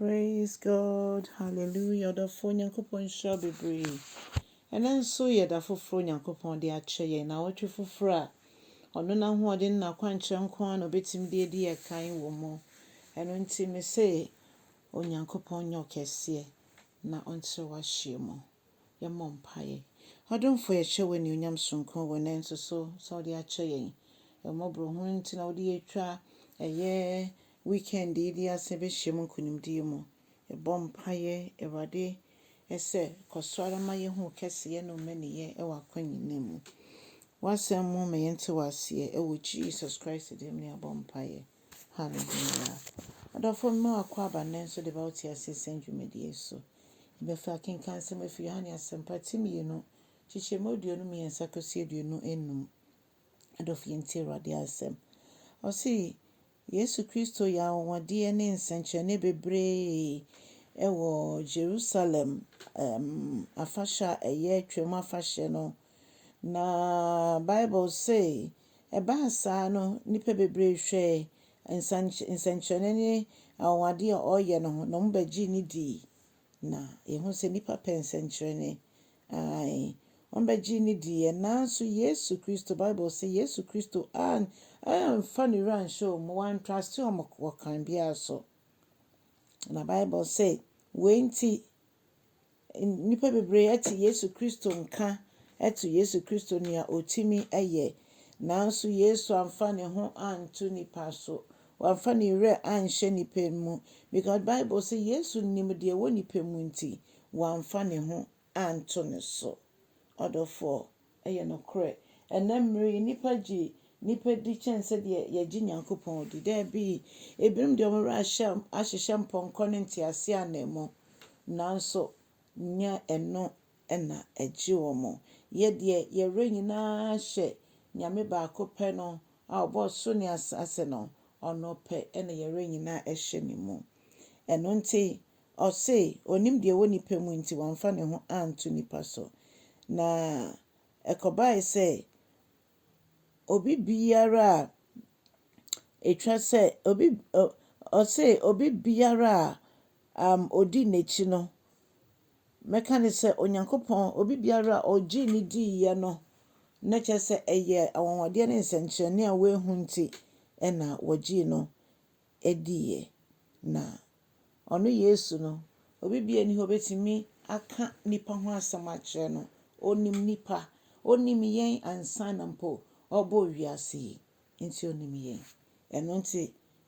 Praise God hallelujah ɔdɔfoɔ Nyankopɔn nhyira bebree ɛnɛ nso yɛ da foforɔ Nyankopɔn de akyɛ yɛn na wɔtwe foforɔ a ɔno n'ahoɔden na akwankyerɛ nko ara na obetumi de adi yɛ kan wɔ mu ɛno nti me se Onyankopɔn nyɛ ɔkɛseɛ na ɔnkyerɛ w'ahyeɛ mu yɛmmɔ mpaeɛ ɔdomfoɔ yɛhyɛ wo anuonyam soronko wɔ ɛnɛ nso so sɛ ɔde akyɛ yɛn ɛmmɔborɔ hunu nti na wode atwa ɛyɛ Weekend yi de ase behyiam nkonimdie mu. Yɛbɔ mpaeɛ, Awurade, sɛ kɔ so ara ma yɛhu wo kɛseyɛ ne wo mmaniyɛ wɔ akwan nyinaa mu. W'asɛm mu ma yɛnte w'aseɛ. Wɔ Jesus Christ din mu na yɛabɔ mpaeɛ. Hallelujah. Adɔfoɔ, mema wo akwaaba nnɛ nso de ba wo teaseɛ sɛm dwumadie so. Yɛbɛfa akenkan nsɛm afi Yohane Asɛmpa ti mmienu, kyekyɛmu aduonu mmiɛnsa kɔsi aduonu nnum. Adɔfo, yɛntie Awurade asɛm. Ɔse, Yesu Kristo yɛ anwanwadeɛ ne nsɛnkyerɛnne bebree wɔ Jerusalem afahyɛ a ɛyɛ Twam afahyɛ no. Na Bible se, ɛbaa saa no, nnipa bebree hwɛɛ nsɛnkyerɛnne ne anwanwadeɛ a ɔreyɛ no ho, na wɔbɛgyee no dii. Na yɛhu sɛ nnipa pɛ nsɛnkyerɛnne. Ae, wɔbɛgyee no diiɛ. Nanso Yesu Kristo, Bible se Yesu Kristo an, amfa ne wura anhyɛ wɔn mu, wantrase wɔn wɔ kwan biara so. Na Bible se, wei nti, nnipa bebree ate Yesu Kristo nka, ɛto Yesu Kristo nea ɔtumi yɛ. Nanso Yesu amfa ne ho anto nnipa so. Wamfa ne werɛ anhyɛ nnipa mu, because Bible se Yesu nim deɛ ɛwɔ nnipa mu nti, wamfa ne ho anto ne so. Ɔdɔfoɔ, ɛyɛ nokorɛ, ɛnnɛ mmerɛ yi nnipa gye nnipa di kyɛn sɛdeɛ yɛgye Nyankopɔn di. Daabi, ebinom deɛ wɔn werɛ ahyɛ ahyehyɛ mpɔnkɔ ne nteaseɛ ananmu, nanso nyɛ ɛno na ɛgye wɔn. Yɛ deɛ yɛwerɛ nyinaa hyɛ Nyame baako pɛ no a ɔbɔɔ soro ne asaase no, ɔno pɛ na yɛwerɛ nyinaa hyɛ ne mu. Ɛno nti ɔse ɔnim deɛ ɛwɔ nipa mu nti wamfa ne ho anto nipa so. Na ɛkɔbaae sɛ obi biara a ɛtwa sɛ obi ɔse obi biara a ɔdi n'akyi no, Mɛka ne sɛ Onyankopɔn, obi biara a ɔgyee no diiɛ no, na kyerɛ sɛ ɛyɛ anwanwadeɛ ne nsɛnkyerɛnne a wɔahu nti na wɔgyee no diiɛ. Na ɔno Yesu no, obi biara nni hɔ ɔbɛtumi aka nipa ho asɛm akyerɛ no. Ɔnim nipa, ɔnim yɛn ansa na mpo ɔbɔɔ wiase yi. Enti onim yɛn. Ɛno nti,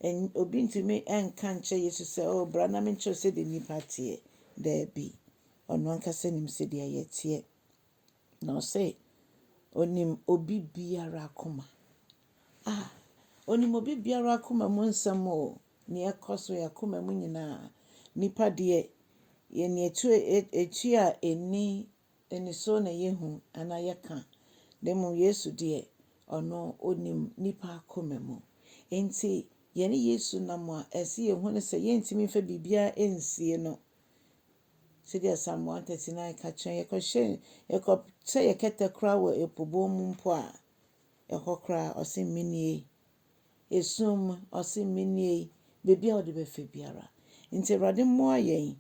ɛn, obi ntumi nka nkyerɛ Yesu sɛ, Oh, bra na menkyerɛ wo sɛdeɛ nnipa teɛ. Daabi. Ɔno ankasa nim sɛdeɛ yɛteɛ. Na ɔse, Onim obi biara akoma. Ah! Onim obi biara akoma mu nsɛm o, nea ɛkɔ so, yɛn akoma mu nyinaa. Nnipa deɛ, yɛn ani atu, ɛ, ɛ, tua ani Aniso na yɛhu anaa yɛka, na mmom Yesu deɛ, ɔno ɔnim nnipa akoma mu. Enti yɛne Yesu nam a, ɛsɛ sɛ yɛhu no sɛ yɛntumi mfa biribiara nsie no. Sɛdeɛ Psalm one thirty nine ka kyerɛ yɛn, yɛkɔhyɛ, yɛkɔsɛ yɛn kɛtɛ koraa wɔ ɛpo bɔn mu mpo a, ɛhɔ koraa ɔse menie. Esum mu, ɔse menie, baabi a wode bɛfa biara. Nti Awurade mmoa yɛn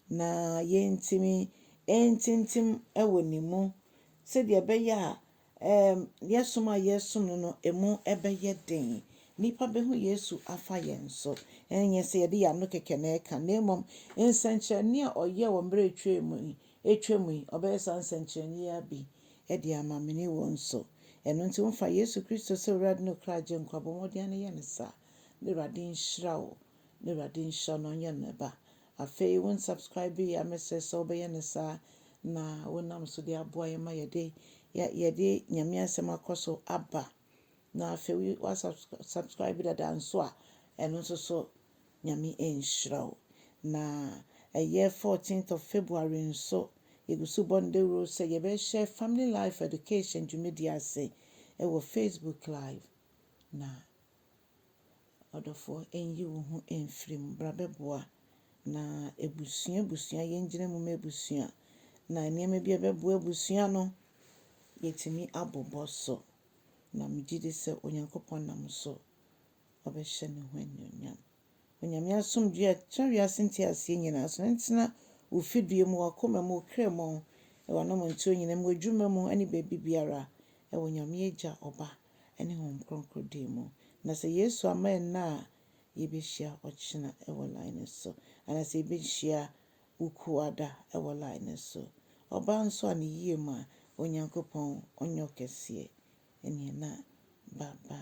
Na yentumi ntintim wɔ ne mu, sɛdeɛ ɛbɛyɛ a ɛɛm yɛn som a yɛresom no no ɛmu bɛyɛ den. Nnipa bɛhu Yesu afa yɛn so. Ɛnyɛ sɛ yɛde yɛn ano kɛkɛ na ɛka, na mmom nsɛnkyerɛnne a ɔyɛɛ wɔ mmerɛ a ɛtwaa mu yi, ɛtwa mu yi, ɔbɛyɛ saa nsɛnkyerɛnne yi ara bi de ama me ne wo nso. Ɛno nti wo fa Yesu Kristo sɛ Owurade ne wo kra Agyenkwa, bɔ mmɔden ara na yɛ no saa. Na Awurade nhyira wo. Na Awurade nhyira wo na ɔnyɛ no ba. Afei wo nsubscribe yi a mɛsrɛ sɛ wobɛyɛ no saa na wonam so de aboa yɛn ma yɛde yɛde Nyame asɛm akɔ so aba. Na afei woasubscribe dada nso a ɛno nso so Nyame nhyira wo. Na ɛyɛ 14th of February nso yɛgu so bɔ no dawuro sɛ yɛbɛhyɛ Family Life Education dwumadie ase wɔ Facebook live na Ɔdɔfoɔ nyi wo ho mfiri mu bra bɛboa na abusua abusua yɛngyina mu ma abusua na nneɛma bi a ɛbɛboa abusua no yɛtumi abobɔ so na megye di sɛ Onyankopɔn nam so ɔbɛhyɛ ne ho anuonyam. Onyame asomdwie a ɛtra wiase nteaseɛ nyinaa so no ntena wo fidua mu, w'akoma mu, wo kra mu, wɔ anamontuo nyinaa mu, w'adwuma mu ne baabi biara, wɔ Onyame Agya, Ɔba ne Honhom Kronkron din mu. Na sɛ Yesu amma ɛnnɛ a, yɛbɛhyia ɔkyena wɔ line no so. Anaa sɛ yɛbɛhyia Wukuada wɔ line no so. Ɔbaa nso a ne yie mu a, Onyankopɔn ɔnyɛ ɔkɛseɛ. Ɛneɛ na bye bye.